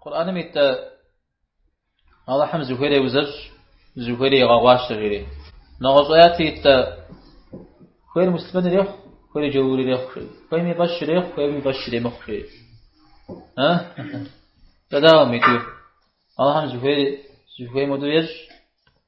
Къурӏаным ит тӏэ Алыхьым зыхуейр еузэщӏ, зыхуейр игъэгъуащэ жери. Нэгъуэщӏ аяти ит тӏэ хуейр муслъымэн ирехъу, хуейр джаур ирехъу жери. Хуейм и фӏэщ ирехъу, хуейм и фӏэщ иремыхъу жери. А? Тӏэдагъым иту. Алыхьым зыхуейр зыхуейм хуэдэу ещӏ,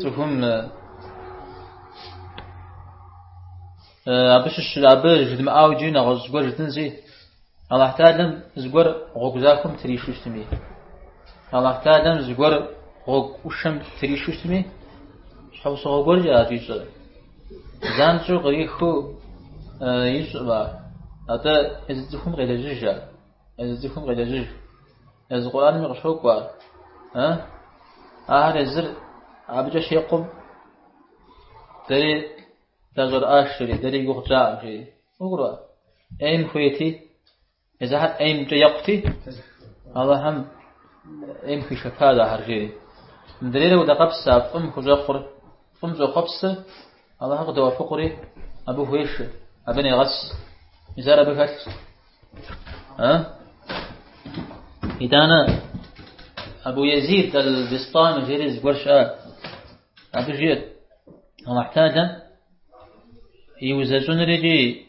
Цӏыхум абы щыщ абы жыдмыӏау иджы нэгъуэщӏ зыгуэр жытӏынзи, Аллахь Тэхьэлэм зыгуэр гъуэгу захуэм тришу щытми, Аллахь Тэхьэлэм зыгуэр гъуэгу ӏушэм тришу щытми, щхьэусыгъуэ гуэркӏэщ щӏищӏэр. Занщӏэу къриху ищӏ ар, атӏэ езы цӏыхум къелэжьыж ар. Езы цӏыхум къелэжьыж. Езы Къурӏанми къыщокӏуэ ар. Э? Ахэр езыр абыкӏэ щекъум, дэри дащӏэрыӏащ, жери, дэри я гугъу тщӏакъым, жери. Фӏыкӏурэ? ӏейм хуейти, езыхэр ӏеймкӏэ екъути, Аллахьым ӏейм хуишэпащ ахэр, жери. Мыдрейрэ удэкъэпс а фӏым хущӏэкъур. Фӏым щӏохъуэпсы, Алыхьыр къыдоӏэпыкъури, абы хуешэ, абы негъэс. Мис ар абы хэлъщ. А? Итӏанэ Абу Язид аль-Бистами жери зыгуэр щыӏат. Абы жиӏэт, Алыхь Талэ и узэщӏыныр икӏи